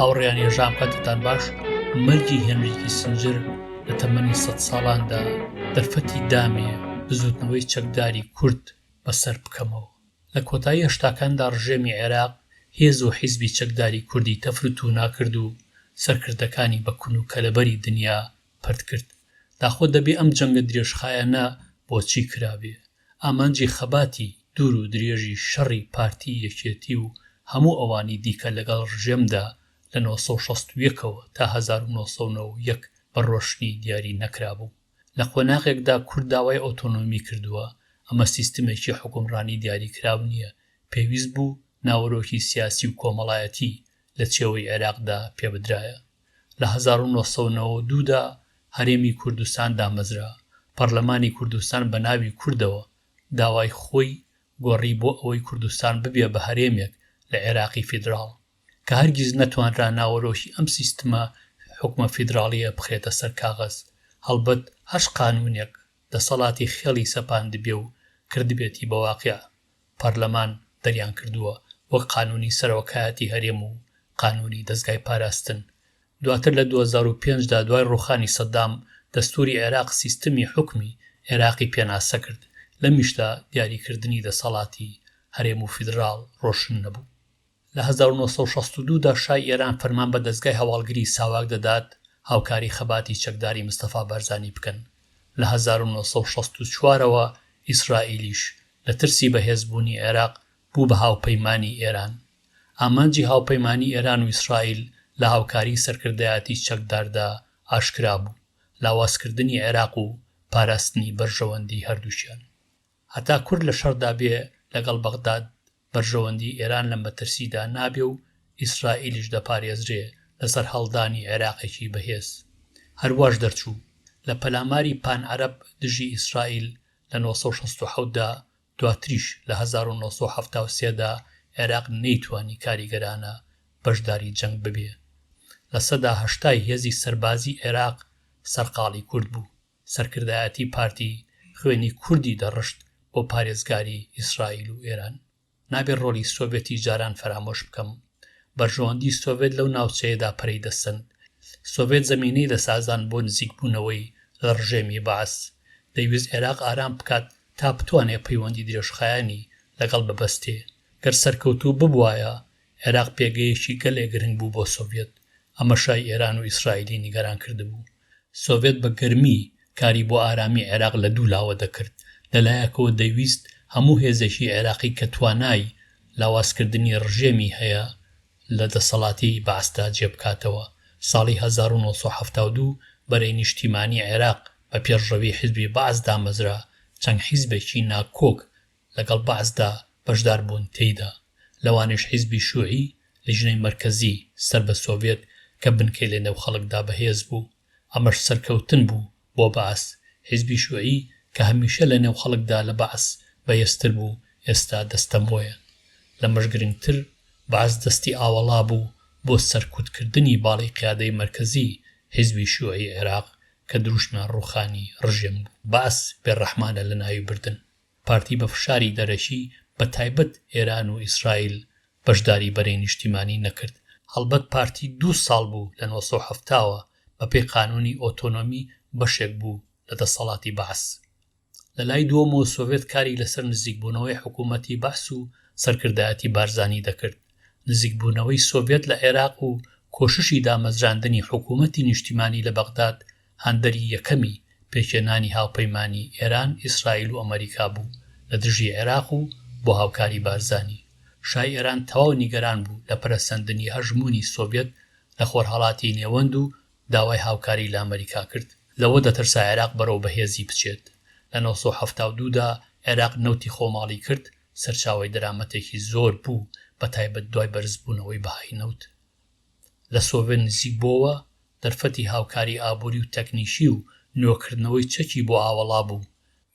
هاوڕیان ێژان پەتتان باش مەرگی هێنریکی سنجر لە تەمەنی سە ساڵاندا دەرفەتی دامێ بزوتنەوەی چەکداری کورد بەسەر بکەمەوە لە کۆتایی هەشتاکاندا ڕژێمی عێراق هێز و حیزبی چەکداری کوردی تەفر و تونا کرد و سەرکردەکانی بە کون و کەلەبەری دنیا پەرت کرد. داخۆ دەبێ ئەم جەنگە درێژخایەنە بۆچی کرابێ؟ ئامانجی خەباتی دوور و درێژی شەڕی پارتی، یەکێتی و هەموو ئەوانی دیکە لەگەڵ ڕژێمدا لە نۆ سەد و شەست و یەک ەوە تا هەزار و نۆ سەد و نەوەد و یەک بە ڕۆشنی دیاری نەکرابوو. لە قۆناغێکدا کورد داوای ئۆتۆنۆمی کردووە، ئەمە سیستمێکی حوکمڕانی دیاریکراو نییە، پێویست بوو ناوەرۆکی سیاسی و کۆمەڵایەتی لە چێوەی عێراقدا پێبدرایە. لە هەزار و نۆ سەد و نەوەد و دوو دا هەرێمی کوردستان دامەزرا، پەڕلەمانی کوردستان بە ناوی کوردەوە داوای خۆی گۆڕی بۆ ئەوەی کوردستان ببێ بە هەرێمێک لە عێراقی فیدراڵ، کە هەرگیز نەتوانرا ناوەرۆکی ئەم سیستمە حوکمە فیدراڵییە بخرێتە سەر کاغەز، هەڵبەت هەر قانوونێک دەسەڵاتی خێڵی سەپاندبێ و کردبێتی بە واقیع، پارلەمان دەریانکردووە وەک قانوونی سەرۆکایەتی هەرێم و قانوونی دەزگای پاراستن. دواتر لە دوو هەزار و پێنج دا دوای ڕووخانی سەدام، دەستووری عێراق سیستمی حوکمی عێراقی پێناسە کرد، لەمیشدا دیاریکردنی دەسەڵاتی هەرێم و فیدراڵ ڕۆشن نەبوو. لە هەزار و نۆ سەد و شەست و دوو دا شای ئێران فەرمان بە دەزگای هەواڵگریی ساواک دەدات هاوکاریی خەباتی چەکداری مستەفا بارزانی بکەن. لە هەزار و نۆ سەد و شەست و چوار ەوە ئیسرائیلیش لە ترسی بەهێزبوونی عێراق بوو بە هاوپەیمانی ئێران. ئامانجی هاوپەیمانی ئێران و ئیسرائیل لە هاوکاریی سەرکردایەتی چەکداردا ئاشکرا بوو، لاوازکردنی عێراق و پاراستنی بەرژەوەندیی هەردووکیان. هەتا کورد لە شەڕدا بێ لەگەڵ بەغداد، بەرژەوەندی ئێران لە مەترسیدا نابێ و ئیسرائیلیش دەپارێزرێ لە سەرهەڵدانی عێراقێکی بەهێز. هەر واش دەرچوو. لە پەلاماری پان عەرەب دژی ئیسرائیل لە نۆ سەد و شەست و حەوت دا، دواتریش لە هەزار و نۆ سەد و حەفتا و سێ دا عێراق نەیتوانی کاریگەرانە بەشداری جەنگ ببێ. لە سەدا هەشتای هێزی سەربازی عێراق سەرقاڵی کورد بوو. سەرکردایەتی پارتی خوێنی کوردی دەڕشت بۆ پارێزگاری ئیسرائیل و ئێران. نابێ ڕۆڵی سۆڤێتی جاران فەرامۆش بکەم. بەرژەوەندی سۆڤێت لەو ناوچەیەدا پەرەی دەسەند. سۆڤێت زەمینەی دەسازان بۆ نزیکبوونەوەی لە ڕژێمی بەعس. دەیویست عێراق ئارام بکات تا بتوانێ پەیوەندی درێژخایەنی لەگەڵ ببەستێ. گەر سەرکەوتوو ببوایە، عێراق پێگەیەکی گەلێ گرنگ بوو بۆ سۆڤێت. ئەمە شای ئێران و ئیسرائیلی نیگەران کردبوو. سۆڤێت بە گەرمی کاری بۆ ئارامی عێراق لە دوو لاوە دەکرد، لە لایەکەوە دەیویست هەموو هێزێکی عێراقی کە توانای لاوازکردنی ڕژێمی هەیە لە دەسەڵاتی بەعسدا جێ بکاتەوە، ساڵی هەزار و نۆ سەد و حەفتا و دوو بەرەی نیشتیمانی عێراق بە پێشڕەوی حیزبی بەعس دامەزرا، چەند حیزبێکی ناکۆک لەگەڵ بەعسدا بەشدار بوون تێیدا، لەوانەیش حیزبی شوعی، لیژنەی مەرکەزی سەر بە سۆڤێت کە بنکەی لە نێو خەڵکدا بەهێز بوو، ئەمەش سەرکەوتن بوو بۆ بەعس، حیزبی شوعی کە هەمیشە لە نێو خەڵکدا لە بەعس بەێزتر بوو ئێستا دەستەمۆیە. لەمەش گرنگتر بەعس دەستی ئاوەڵا بوو بۆ سەرکوت کردنی باڵی قیادەی مەرکەزی حیزبی شوعی عێراق کە دروشمیان ڕووخانی ڕژێم بوو. بەعس بێ ڕەحمانە لە ناوی بردن. پارتی بە فشاری دەرەکی بە تایبەت ئێران و ئیسرائیل بەشداری بەرەی نیشتیمانی نەکرد. هەڵبەت پارتی دوو ساڵ بوو لە نۆ سەد و حەفتا وە بە پێی قانوونی ئۆتۆنۆمی بەشێک بوو لە دەسەڵاتی بەعس. لە لای دووەمەوە سۆڤێت کاری لە سەر نزیک بوونەوەی حکوومەتی بەعس و سەرکردایەتی بارزانی دەکرد. نزیک بوونەوەی سۆڤێت لە عێراق و کۆششی دامەزراندنی حکوومەتی نیشتیمانی لە بەغداد هاندەری یەکەمی پێکهێنانی هاوپەیمانی ئێران، ئیسرائیل و ئەمەریکا بوو لە دژی عێراق و بۆ هاوکاری بارزانی. شای ئێران تەواو نیگەران بوو لە پەرەسەندنی هەژموونی سۆڤیەت لە خۆرهەڵاتی نێوەند و داوای هاوکاری لە ئەمەریکا کرد. لەوە دەترسا عێراق بەرەو بەهێزی بچێت. لە نۆ سەد و حەفتا و دوو دا عێراق نەوتی خۆماڵی کرد، سەرچاوەی دەرامەتێکی زۆر بوو بە تایبەت دوای بەرزبوونەوەی بەهای نەوت لە سۆڤێت نزیک بۆوە، دەرفەتی هاوکاری ئابووری و تەکنیکی و نوێکردنەوەی چەکی بۆ ئاوەڵا بوو،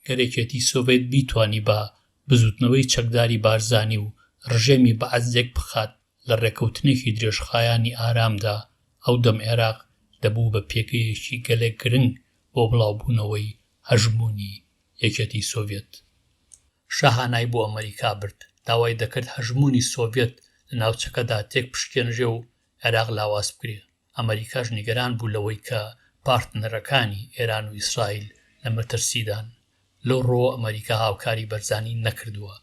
گەر یەکێتی سۆڤێت بیتوانیبا بزووتنەوەی چەکداری بارزانی و ڕژێمی بەعس یەک بخات لە ڕێکەوتنێکی درێژخایانی ئارامدا، ئەو دەم عێراق دەبوو بە پێگەیەکی گەلێک گرنگ بۆ بڵاوبوونەوەی هەژموونی یەکێتی سۆڤێت. شا هانای بۆ ئەمەریکا برد، داوای دەکرد هەژموونی سۆڤێت لە ناوچەکەدا تێکبشکێنرێ و عێراق لاواز بکرێت، ئەمەریکاش نیگەران بوو لەوەی کە پارتنەرەکانی ئێران و ئیسرائیل لە مەترسیدان، لەو ڕووەوە ئەمەریکا هاوکاری بەرزانی نەکردووە،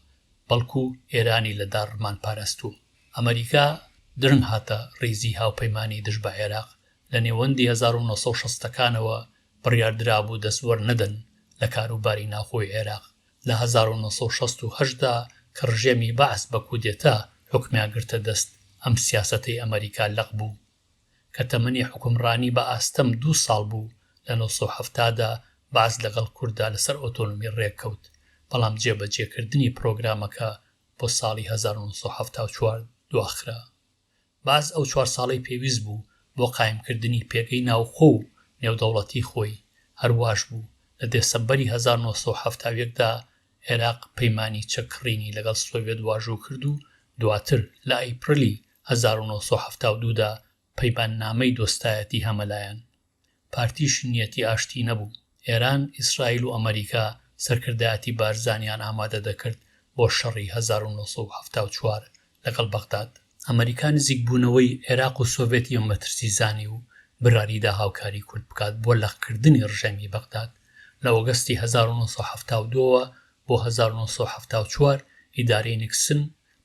بەڵکو ئێرانی لە داڕمان پاراستووە. ئەمەریکا درنگ هاتە ڕیزی هاوپەیمانانی دژ بە عێراق، لە نێوەندی هەزار و نۆ سەد و شەست ەکانەوە بڕیاردرابوو دەست وەرنەدەن لە کاروباری ناوخۆی عێراق، لە هەزار و نۆ سەد و شەست و هەشت دا کە ڕژێمی بەعس بە کودێتا حوکمیان گرتە دەست ئەم سیاسەتەی ئەمەریکا لەق بوو کە تەمەنی حوکمڕانی بە ئاستەم دوو ساڵ بوو لە نۆ سەد و حەفتا دا بەعس لەگەڵ کورددا لەسەر ئۆتۆنۆمی ڕێککەوت بەڵام جێبەجێکردنی پڕۆگرامەکە بۆ ساڵی هەزار و نۆ سەد و حەفتا و چوار دواخرا. باز ئەو چوار ساڵەی پێویست بوو بۆ قایمکردنی پێگەی ناوخۆ و نێودەوڵەتی خۆی، هەر واش بوو، لە دێسەمبەری هەزار و نۆ سەد و حەفتا و یەک دا عێراق پەیمانی چەککڕینی لەگەڵ سۆڤێت واژۆ کرد و دواتر لە ئەیپرلی هەزار و نۆ سەد و حەفتا و دوو دا پەیماننامەی دۆستایەتی هەمەلایەن پارتیش نیەتی ئاشتی نەبوو، ئێران، ئیسرائیل و ئەمەریکا سەرکردایەتی بارزانیان ئامادە دەکرد بۆ شەڕی هەزار و نۆ سەد و حەفتا و چوار لەگەڵ بەغداد. ئەمەریکا نزیک بوونەوەی عێراق و سۆڤێت یە مەترسی زانی و براریدا هاوکاری کورد بکات بۆ لەق کردنی ڕژێمی بەغداد. لە ئۆگەستی هەزار و نۆ سەد و حەفتا و دوو ەوە بۆ هەزار و نۆ سەد و حەفتا و چوار ئیدارەی نیکسن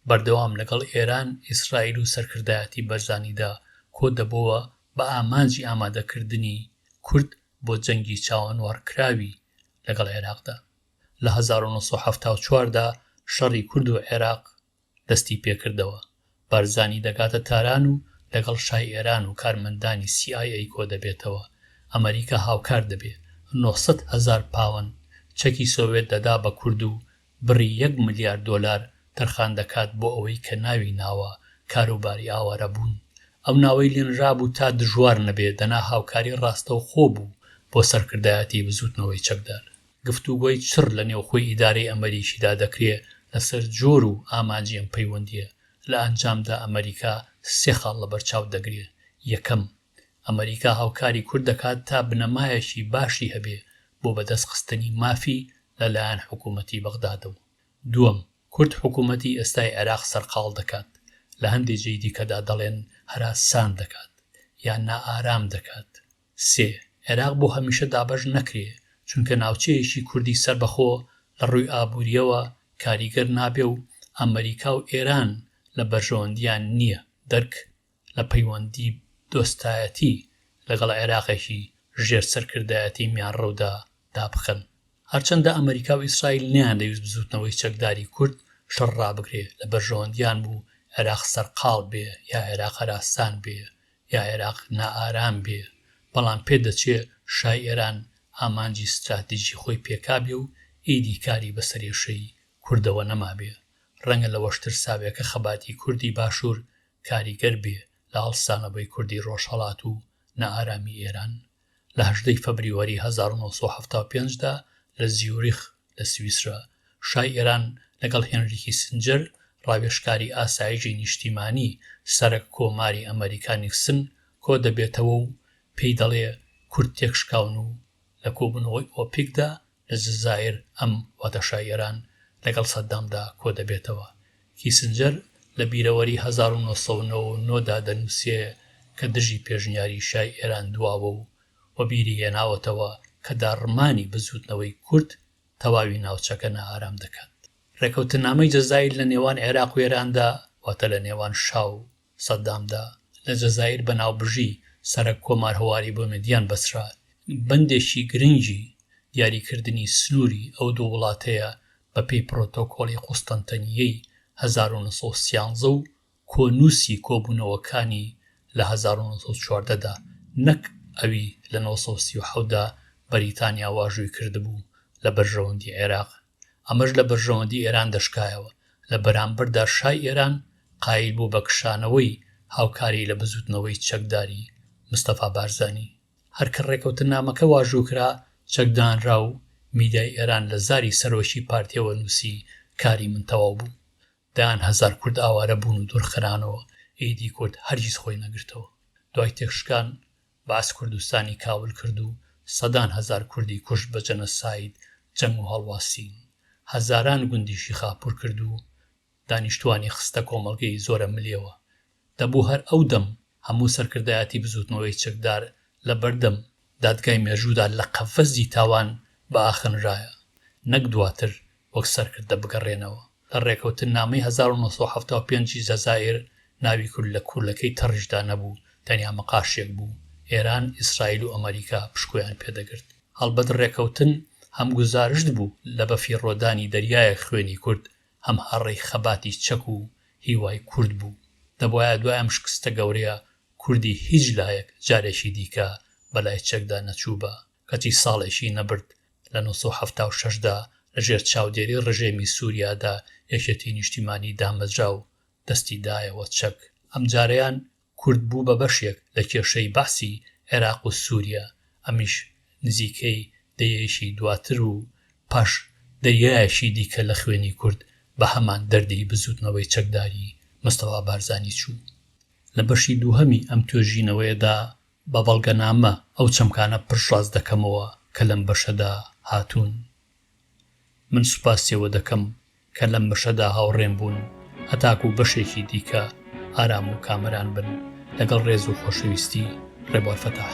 بەردەوام لەگەڵ ئێران، ئیسرائیل و سەرکردایەتی بەرزانیدا کۆدەبۆوە بە ئامانجی ئامادەکردنی کورد بۆ جەنگی چاوەنوەڕکراوی لەگەڵ عێراقدا. لە هەزار و نۆ سەد و حەفتا و چوار دا شەڕی کورد و عێراق دەستی پێکردەوە، بارزانی دەگاتە تاران و لەگەڵ شای ئێران و کارمەندانی سی ئای ئەی کۆدەبێتەوە، ئەمەریکا هاوکار دەبێ، نۆ سەد هەزار پاوەند چەکی سۆڤێت دەدا بە کورد و بڕی یەک ملیار دۆلار تەرخان دەکات بۆ ئەوەی کە ناوی ناوە کاروباری ئاوارەبوون ئەو ناوەی لێنرابوو تا دژوار نەبێ دەنا هاوکاری ڕاستەوخۆ بوو بۆ سەرکردایەتی بزووتنەوەی چەکدار. گفتوگۆی چڕ لە نێوخۆی ئیدارەی ئەمەریکیدا دەکرێ لەسەر جۆر و ئامانجی ئەم پەیوەندییە، لە ئەنجامدا ئەمەریکا سێ خاڵ لەبەرچاو دەگرێ، یەکەم، ئەمەریکا هاوکاری کورد دەکات تا بنەمایەکی باشی هەبێ بۆ بەدەست خستنی مافی لە لایەن حکوومەتی بەغدادەوە. دووەم، کورد حکوومەتی ئێستای عێراق سەرقاڵ دەکات، لە هەندێ جێی دیکەدا دەڵێن هەراسان دەکات یا نائارام دەکات. سێ، عێراق بۆ هەمیشە دابەش نەکرێ، چونکە ناوچەیەکی کوردی سەربەخۆ لە ڕووی ئابوورییەوە کاریگەر نابێ و ئەمەریکا و ئێران لە بەرژەوەندییان نییە. دەرک؟ لە پەیوەندی دۆستایەتی لەگەڵ عێراقێکی ژێر سەرکردایەتی میانڕەودا دا بکەن. هەرچەندە ئەمەریکا و ئیسرائیل نەیاندەویست بزووتنەوەی چەکداری کورد شەڕ ڕابگرێ، لە بەرژەوەندیان بوو عێراق سەرقاڵ بێ یا عێراق هەراسان بێ یا عێراق نائارام بێ، بەڵام پێ دەچێ شای ئێران ئامانجی ستراتیجی خۆی پێکابێ و ئیدی کاری بە سەرێشەی کوردەوە نەمابێ. ڕەنگە لەوەش ترسابێ کە خەباتی کوردی باشوور کاریگەر بێ لە هەڵسانەوەی کوردی ڕۆژهەڵات و نائارامی ئێران، لە هەژدە ی فەبریوەری هەزار و نۆ سەد و حەفتا و پێنج دا لە زیوریخ لە سویسرا، شای ئێران لەگەڵ هێنری کیسنجەر، ڕاوێژکاری ئاسایجی نیشتیمانی سەرەک کۆماری ئەمەریکا نیکسن کۆ دەبێتەوە و پێی دەڵێ کورد تێکشکاون و لە کۆبوونەوەی ئۆپیکدا لە جەزائیر ئەم واتەشای ئێران لەگەڵ سەددامدا کۆ دەبێتەوە. کیسنجەر لە بیرەوەری هەزار و نۆ سەد و نەوە و نۆ دا دەنووسێ کە دژی پێشنیاری شای ئێران دواوە و وەبیری هێناوەتەوە کە داڕمانی بزووتنەوەی کورد تەواوی ناوچەکە نائارام دەکات. ڕێکەوتننامەی جەزائیر لە نێوان عێراق و ئێراندا واتە لە نێوان شا و سەدام دا لە جەزائیر بە ناوبژی سەرەک کۆمار هەواری بۆ مەدیان بەسرا بەندێکی گرنگی دیاری کردنی سنووری ئەو دوو وڵاتەیە بە پێی پرۆتۆکۆڵی قوستەنتەنییەی هەزار و نۆ سەد و سیانزە و کۆنووسی کۆبوونەوەکانی لە هەزار و نۆ سەد و چواردە دا نەک ئەوی لە نۆ سەد و سی و حەوت دا بەریتانیا واژووی کردبوو لە بەرژەوەندی عێراق ئەمەش لە بەرژەوەندی ئێران دەشکایەوە، لە بەرامبەردا شای ئێران قایل بوو بە کشانەوەی هاوکاری لە بزووتنەوەی چەکداری مستەفا بارزانی. هەر کە ڕێکەوتننامەکە واژوو کرا، چەک دانرا و میدیای ئێران لە زاری سەرۆکی پارتییەوە نووسی کاری من تەواو بوو. دەیان هەزار کورد ئاوارە بوون و دوورخرانەوە، ئیدی کورد هەرگیز خۆی نەگرتەوە. دوای تێکشکان باس کوردستانی کاول کرد و سەدان هەزار کوردی کوشت بە جەنۆساید جەنگ و هەڵواسین هەزاران گوندیشی خاپور کرد و دانیشتوانی خستە کۆمەڵگەی زۆرە ملیەوە دەبوو هەر ئەو دەم هەموو سەرکردایەتی بزوتنەوەی چەکدار لە بەردەم دادگای مێژوودا لە قەفەزی تاوان بئاخنرایە نەک دواتر وەک سەرکردە بگەڕێنەوە. لە ڕێکەوتننامەی هەزار و نۆ سەد و حەفتا و پێنج ی جەزائیر، ناوی کورد لە کورلەکەی تەڕیشدا نەبوو، تەنیا مقاشێک بوو، ئێران، ئیسرائیل و ئەمەریکا پشکۆیان پێ دەگرت. هەڵبەت ڕێکەوتن هەم گوزارشت بوو لە بەفیڕۆدانی دەریایەک خوێنی کورد، هەم هەڕەی خەباتی چەک و هیوای کورد بوو. دەبوایە دوای ئەم شکستە گەورەیە کوردی هیچ لایەک جارێکی دیکە بەلای چەکدا نەچووبا. کەچی ساڵێکی نەبرد لە نۆ سەد و حەفتا و شەش دا لە ژێر چاودێری ڕژێمی سوریادا یەکێتی نیشتیمانی دامەزرا و دەستی دایەوە چەک، ئەمجارەیان کورد بوو بە بەشێک لە کێشەی بەعسی عێراق و سوریا، ئەمیش نزیکەی دەیەیەکی دواتر و پاش دەیەیەکی دیکە لە خوێنی کورد بە هەمان دەردی بزوتنەوەی چەکداری مستەفا بارزانی چوو. لە بەشی دووهەمی ئەم توێژینەوەیەدا بە بەڵگەنامە ئەو چەمکانە پشتڕاست دەکەمەوە کە لەم بەشەدا هاتوون. من سوپاسی ئەوە دەکەم کە لەم بەشەدا هاوڕێم بوون هەتاکوو بەشێکی دیکە ئارام و کامەران بن لەگەڵ ڕێز و خۆشەویستی ڕێبوار فەتاح.